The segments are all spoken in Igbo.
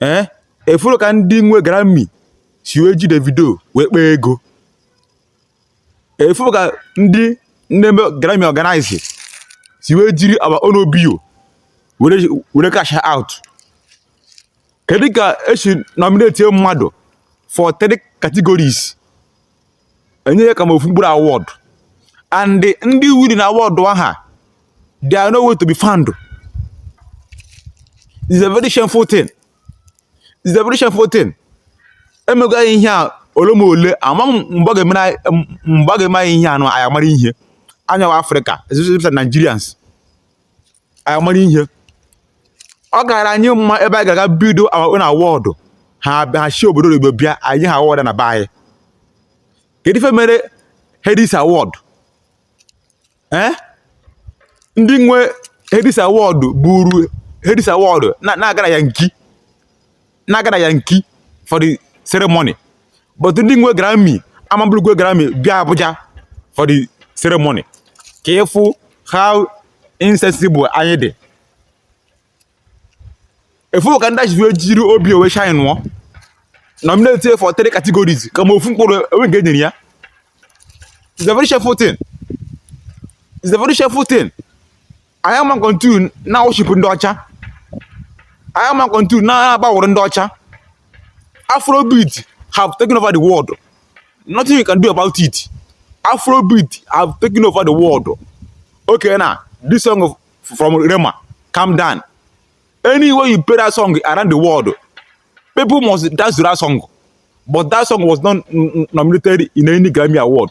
ee eh, ị fụrụ ka ndị nwe Grammy si wee ji Davido wee kpaa ego ị fụrụ ka ndị na-eme Grammy organize si wee jiri our own OBO were cash out kedu ka esi nominate mmadụ for three categories enye ya kama ofu mkpụrụ award and ndị wiri na award ahụ they are nowhere to be found is a very shameful thing is a very shameful thing emego anyị ihe a ole ma ole ama m mgbe ọ ga-eme anyị ihe anụ anyị amara ihe anyịwa Afrịka especially Nigerians anyị mara ihe ọ gara anyị mma ebe anyị ga-aga bido our own award ha esi obodo oyibo bịa anyị award na be anyị kedu ife mere Headies award eh? ndị nwe Headies award buru Headies award na-aga na Yankee na-aga Yankee for the ceremony but ndị nwe Grammy ama eburukwa Grammy bịa Abuja for the ceremony ka ị fụ how insensible anyị dị ị fụ ka ndị ọcha si jiri OBO wee shine nnọọ nominate for three categories kama ofu mkpụrụ enwe nke enyere ya is a very shameful thing is a very shameful thing anyị ama continue na-aworship ndị ọcha anyị ama continue na-abowụrụ ndị ọcha afrobeat have taken over the world nothing you can do about it afrobeat have taken over the world okay now this song of, from rema calm down anywhere you play that song around the world people must dance to that song but that song was not nominated in any grammy award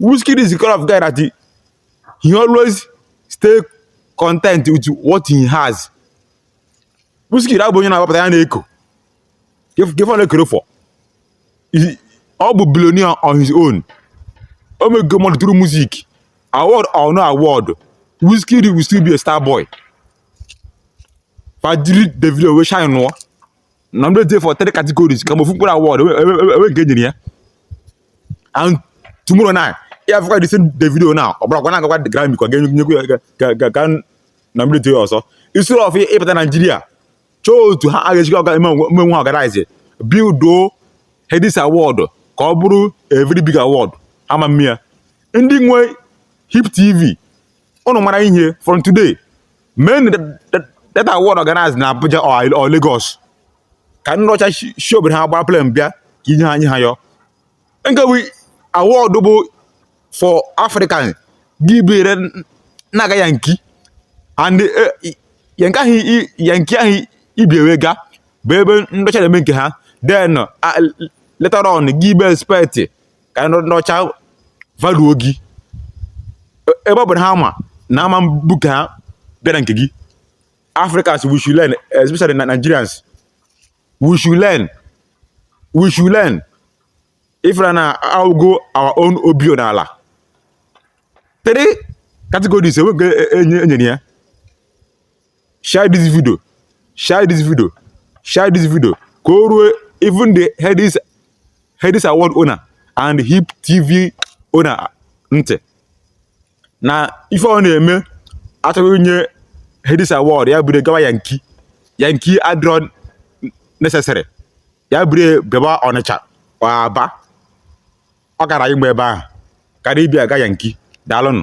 Wizkid is the kind of guy that he, he always stay content with what he has. Wizkid abụ onye na-agbapụta ya na-eko gefe na-ekere fọ ọ bụ billionaire on his own o mego mmadụ through music award or no award Wizkid will still be a star boy fa jiri Davido wee shine nnọọ nominate ya for three categories kama ofu mkpụrụ award enwe nke enyere ya and tomorrow now ị ya-afụkwa the same Davido now ọ bụrakwa na-agakwa the Grammy ka ga-enyekwu ya ka ka a nominate ya ọzọ instead of ịbata Naijiria chọọ otu ha ga-esikwa ọga ime wee organize buildo Headies award ka ọ bụrụ a very big award ama m ihe ndị nwe Hip TV ụnụ mara ihe from today mee na that award organized na Abuja or Lagos ka ndị ọcha shi obodo ha gbara plane bịa ka inye ha anyị ha yọ nke bụ award bụ for African gị buru na-aga yanki and eh, yanki ahụ yanki ahụ i bu wee ga bụ ebe ndị ọcha na-eme nke ha then ah, later on gị be expect ka ndị ọcha valuo gị e, ebe ọ bụ na ha ma na ama mbu ka ha bịa na nke gị Africans we should learn especially na Nigerians we should learn we should learn if na awụgo our own obio n'ala three categories enweghị e, e, enyere ya share this video share this video share this video ka o ruo even the headies headies award owner and hip tv owner ntị na ife ọ na-eme a chọọ inye headies award ya buru gawa yanki yanki adịrọ necessary ya buru bịaba ọnịcha aba ọ gara ịgba ebe ahụ karịa ibu aga yanki daalụnụ